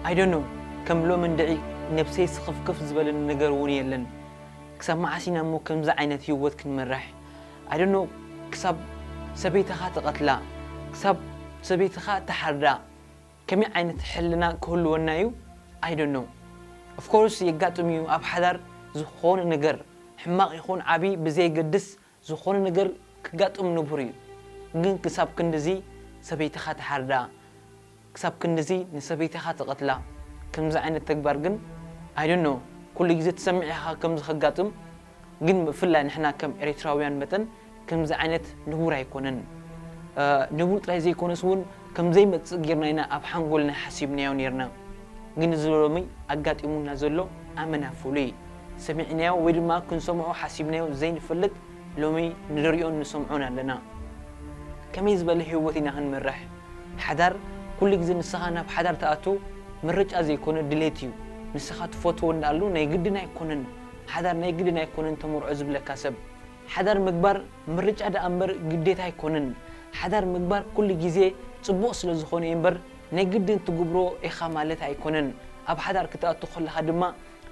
I don't know ከም ሎሚ እንድዒ ነብሰይ ስኽፍክፍ ዝበለኒ ነገር ውን የለን ክሳብ መዓስ ኢና እሞ ከምዚ ዓይነት ሂወት ክንመርሕ I don't know ክሳብ ሰበይትኻ ትቐትላ ክሳብ ሰበይትኻ ትሓርዳ ከመይ ዓይነት ሕልና ክህልወና እዩ I don't know Of course የጋጥም እዩ ኣብ ሓዳር ዝኾነ ነገር ሕማቕ ይኹን ዓቢ ብዘየገድስ ዝኾነ ነገር ከጋጥም ንቡር እዩ ግን ክሳብ ክንድዚ ሰበይትኻ ትሓርዳ ክሳብ ክንድዚ ንሰበይትኻ ትቐትላ ከምዚ ዓይነት ተግባር ግን I don't know ኩሉ ግዜ ትሰምዕ ኢኻ ከምዚ ከጋጥም ግን ብፍላይ ንሕና ከም ኤሪትራውያን መጠን ከምዚ ዓይነት ንቡር ኣይኮነን ንቡር ጥራይ ዘይኮነስ ውን ከምዘይመጽእ ጌርና ኢና ኣብ ሓንጎልና ሓሲብናዮ ኔርና ግን እዚ ሎሚ ኣጋጢሙና ዘሎ ኣመና ፍሉይ ሰሚዕናዮ ወይ ድማ ክንሰምዖ ሓሲብናዮ ዘይንፈልጥ ሎሚ ንርእዮን ንሰምዖን ኣለና። ከመይ ዝበለ ህይወት ኢና ክንመርሕ? ሓዳር ኩሉ ግዜ ንስኻ ናብ ሓዳር ትኣቱ ምርጫ ዘይኮነ ድሌት እዩ። ንስኻ ትፈትዎ እንዳኣሉ ናይ ግድን ኣይኮነን ሓዳር ናይ ግድን ኣይኮነን ተመርዖ ዝብለካ ሰብ። ሓዳር ምግባር ምርጫ ድኣ እምበር ግዴታ ኣይኮነን። ሓዳር ምግባር ኩሉ ግዜ ጽቡቕ ስለ ዝኾነ እዩ እምበር ናይ ግድን ትግብሮ ኢኻ ማለት ኣይኮነን። ኣብ ሓዳር ክትኣቱ ከለኻ ድማ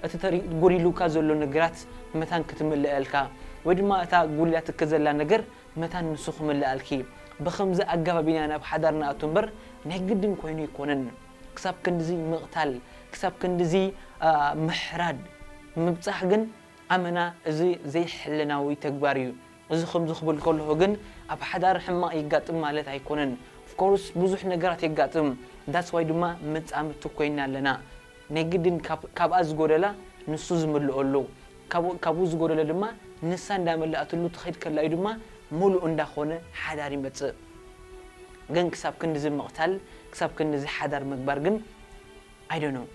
እቲ ተሪር ጎዲሉካ ዘሎ ነገራት መታን ክትምለኣልካ ወይ ድማ እታ ጎዲላትኪ ዘላ ነገር መታን ንሱ ክምለኣልኪ ብኸምዚ ኣገባብ ኢና ናብ ሓዳር ንኣቱ እምበር ናይ ግድን ኮይኑ ኣይኮነን ክሳብ ክንድዚ ምቕታል ክሳብ ክንድዚ ምሕራድ ምብጻሕ ግን ኣመና እዚ ዘይሕልናዊ ተግባር እዩ እዚ ከምዚ ክብል ከለኹ ግን ኣብ ሓዳር ሕማቕ የጋጥም ማለት ኣይኮነን of course ብዙሕ ነገራት የጋጥም that's why ድማ መጻምድቲ ኮይና ኣለና ናይ ግድን ካብኣ ዝጎደላ ንሱ ዝምልኦ ኣሎ ካብኡ ዝጎደለ ድማ ንሳ እንዳመለኣትሉ ትኸይድ ከላ እዩ ድማ ሙሉእ እንዳኾነ ሓዳር ይመፅእ ግን ክሳብ ክንድዚ ምቕታል ክሳብ ክንድዚ ሓዳር ምግባር ግን I don't know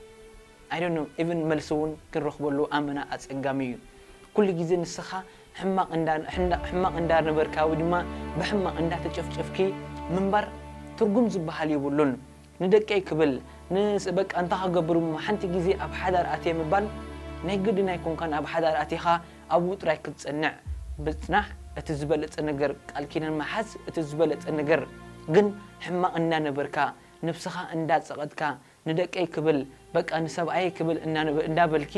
I don't know even መልሲ እውን ክንረኽበሉ ኣመና ኣፀጋሚ እዩ ኩሉ ግዜ ንስኻ ሕማቕ እንዳ ሕማቕ እንዳ ነበርካ ወይ ድማ ብሕማቕ እንዳ ተጨፍጨፍኪ ምንባር ትርጉም ዝብሃል የብሉን ንደቀይ ክብል ን በቃ እንታይ ክገብር እሞ ሓንቲ ግዜ ኣብ ሓዳር ኣትየ ምባል ናይ ግድን ኣይኮንካን ኣብ ሓዳር ኣቲኻ ኣብኡ ጥራይ ክትጸንዕ ምጽናሕ እቲ ዝበለጸ ነገር ቃል ኪዳን ምሓዝ እቲ ዝበለጸ ነገር ግን ሕማቕ እንዳ ነበርካ ነብስኻ እንዳ ጸቐጥካ ንደቀይ ክብል በቃ ንሰብኣየይ ክብል እንዳ በልኪ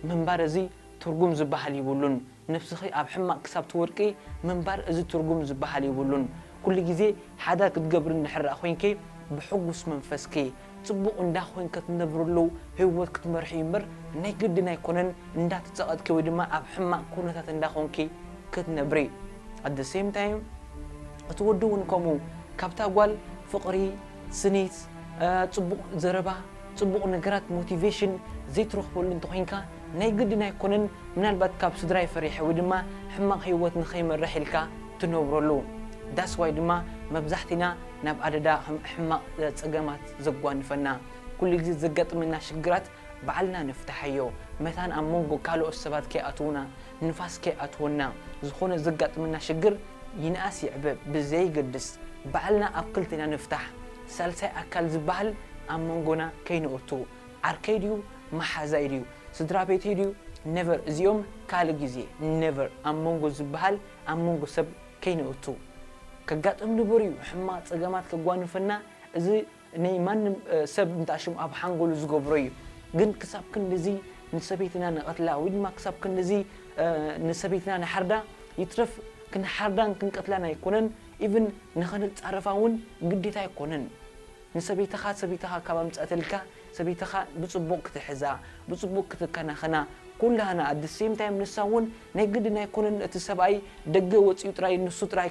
ምንባር እዚ ትርጉም ዝብሃል ይብሉን ነብስኺ ኣብ ሕማቅ ክሳብ ትወድቂ ምንባር እዚ ትርጉም ዝብሃል ይብሉን ኩሉ ግዜ ሓዳር ክትገብሪ እንድሕር ኮይንኪ ብሕጉስ መንፈስኪ ጽቡቅ እንዳ ኮይንኪ ትነብርሉ ሂወት ክትመርሒ እዩ እንበር ናይ ግድን ኣይኮነን እንዳ ተጸቀጥኪ ወይ ድማ ኣብ ሕማቅ ኩነታት እንዳ ኮንኪ ክትነብሪ at the same time እቲ ወዲ ውን ከምኡ ካብታ ጓል ፍቅሪ ስኒት ጽቡቅ ዘረባ ጽቡቅ ነገራት ሞቲቬሽን ዘይትረኽበሉ እንተኾይንካ ናይ ግድን ኣይኮነን ምናልባት ካብ ስድራይ ፈሪሐ ወይ ድማ ሕማቅ ሂወት ንኸይመርሕ ኢልካ ትነብረሉ That's why ድማ መብዛሕቲና ናብ ኣደዳ ሕማቅ ጸገማት ዘጓንፈና ኩሉ ግዜ ዘጋጥመና ሽግራት ባዕልና ንፍታሓዮ መታን ኣብ መንጎ ካሎኦት ሰባት ከይኣትዉና ንፋስ ከይኣትወና ዝኮነ ዘጋጥመና ሽግር ይንኣስ ይዕበ ብዘይገድስ ባዕልና ኣብ ክልቴና ንፍታሕ ሳልሳይ ኣካል ዝባሃል ኣብ መንጎና ከይንእቱ ዓርከይ ድዩ ማሓዛይ ድዩ ስድራቤተይ ድዩ ነቨር እዚኦም ካልእ ግዜ ነቨር ኣብ መንጎ ዝባሃል ኣብ መንጎ ሰብ ከይንእቱ ከጋጥም ንቡር እዩ ሕማቅ ጸገማት ከጓንፈና እዚ ነይ ማንም ሰብ እንታሽም ኣብ ሓንጎሉ ዝገብሮ እዩ ግን ክሳብ ክንድዚ ንሰበይትና ንቀትላ ወይ ድማ ክሳብ ክንድዚ ንሰበይትና ንሓርዳ ይትረፍ ክንሓርዳን ክንቀትላን ኣይኮነን ኢቭን ንክንጻረፋ ውን ግዴታ ኣይኮነን ንሰበይትኻ ሰበይትኻ ካብ ኣምጸኣትልካ ሰበይትኻ ብጽቡቅ ክትሕዛ ብጽቡቅ ክትከናኸና ኩላህና ኣት ዘ ሴም ታይም ንሳ ውን ናይ ግድን ኣይኮነን እቲ ሰብኣይ ደገ ወጺኡ ጥራይ ንሱ ጥራይ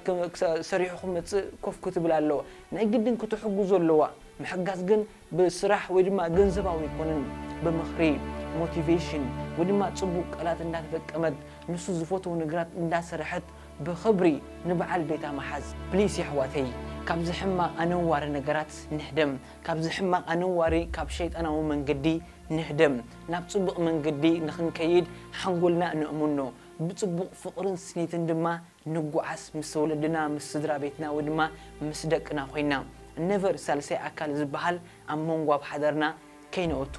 ሰሪሑ ክመጽእ ኮፍ ክትብል ኣለዋ ናይ ግድን ክትሕግዞ ኣለዋ ምሕጋዝ ግን ብስራሕ ወይ ድማ ገንዘባዊ ኣይኮነን ብምኽሪ Motivation ወይ ድማ ጽቡቅ ቃላት እንዳተጠቀመት ንሱ ዝፈትዎ ነገራት እንዳሰረሐት ብኽብሪ ንብዓል ቤታ ምሓዝ please የሕዋተይ ካብዚ ሕማቅ ኣነዋሪ ነገራት ንህደም ካብዚ ሕማቅ ኣነዋሪ ካብ ሸይጣናዊ መንገዲ ንህደም ናብ ጽብቅ መንገዲ ንኽንከይድ ሓንጎልና ነእሙኖ ብጽቡቅ ፍቅርን ስኒትን ድማ ንጉዓዝ ምስ ወለድና ምስ ስድራ ቤትና ወይ ድማ ምስ ደቅና ኮይና never ሳልሳይ ኣካል ዝባሃል ኣብ መንጎ ኣብ ሓዳርና ከይነእቱ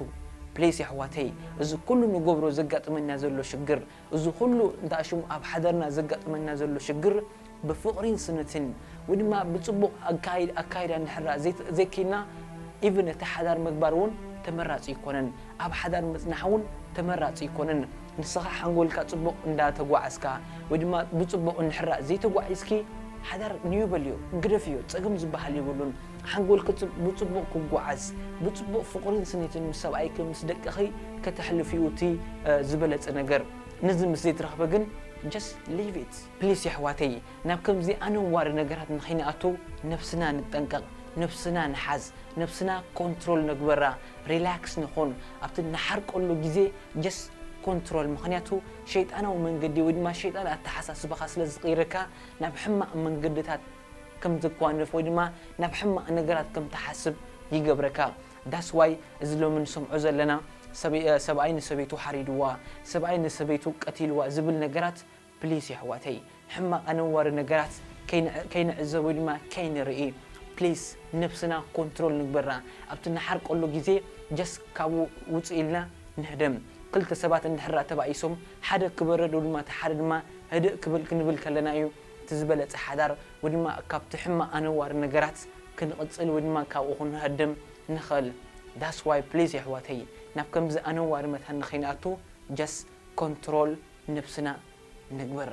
please የሕዋተይ እዚ ኩሉ ንገብሮ ዘጋጥመና ዘሎ ሽግር እዚ ኩሉ እንታሽሙ ኣብ ሓዳርና ዘጋጥመና ዘሎ ሽግር ብፍቅሪን ስኒትን ወይ ድማ ብጽቡቅ ኣካይዳ እንድሕራ ዘይኪኢልና even እቲ ሓዳር ምግባር ውን ተመራጺ ኣይኮነን ኣብ ሓዳር ምጽናሕ ውን ተመራጺ ኣይኮነን ንስኻ ሓንጎልካ ጽቡቕ እንዳ ተጓዓዝካ ወይ ድማ ብጽቡቕ እንድሕራ ዘይተጓዒዝኪ ሓዳር ንዩ በልዮ ግደፍዮ ጸገም ዝብሃል የብሉን ሓንጎልኪ ብጽቡቕ ክጉዓዝ ብጽቡቕ ፍቕሪን ስኒትን ምስ ሰብኣይኪ ምስ ደቅኺ ከተሕልፍዩ እቲ ዝበለጸ ነገር ነዚ ምስ ዘይትረኽቢ ግን just leave it። ፕሊስ የሕዋተይ ናብ ከምዚ ኣነዋሪ ነገራት ንከይንኣቱ ነብስና ንጠንቀቅ ነብስና ንሓዝ ነብስና ኮንትሮል ንግበራ ሪላክስ ንኩን ኣብቲ ንሓርቀሉ ግዜ just ኮንትሮል ምክንያቱ ሸይጣናዊ መንገዲ ወይ ድማ ሸይጣን ኣተሓሳስባካ ስለ ዝቅይረካ ናብ ሕማቅ መንገድታት ከም ትጓነፍ ወይ ድማ ናብ ሕማቅ ነገራት ከም ትሓስብ ይገብረካ that's why እዚ ሎሚ ንሰምዖ ዘለና ሰብኣይ ንሰበይቱ ሓሪድዋ ሰብኣይ ንሰበይቱ ቀቲልዋ ዝብል ነገራት ፕሊስ የሕዋተይ ሕማቅ ኣነዋሪ ነገራት ከይንዕዘብ ወይ ድማ ከይንርኢ ፕሊስ ነብስና ኮንትሮል ንግበራ ኣብቲ እንሓርቀሉ ግዜ ጀስት ካብኡ ውጽእ ኢልና ንህደም ክልተ ሰባት እንድሕር ተባኢሶም ሓደ ክበርድ ወይ ድማ እቲ ሓደ ድማ ህድእ ክብል ክንብል ከለና እዩ እቲ ዝበለጸ ሓዳር ወይ ድማ ካብቲ ሕማቅ ኣነዋሪ ነገራት ክንቅጽል ወይ ድማ ካብኡ ክንሀድም ንክእል that's why ፕሊስ የሕዋተይ ናብ ከምዚ ኣነዋሪ መታን ንከይንኣቱ ጀስት ኮንትሮል ንነብስና ንግበራ።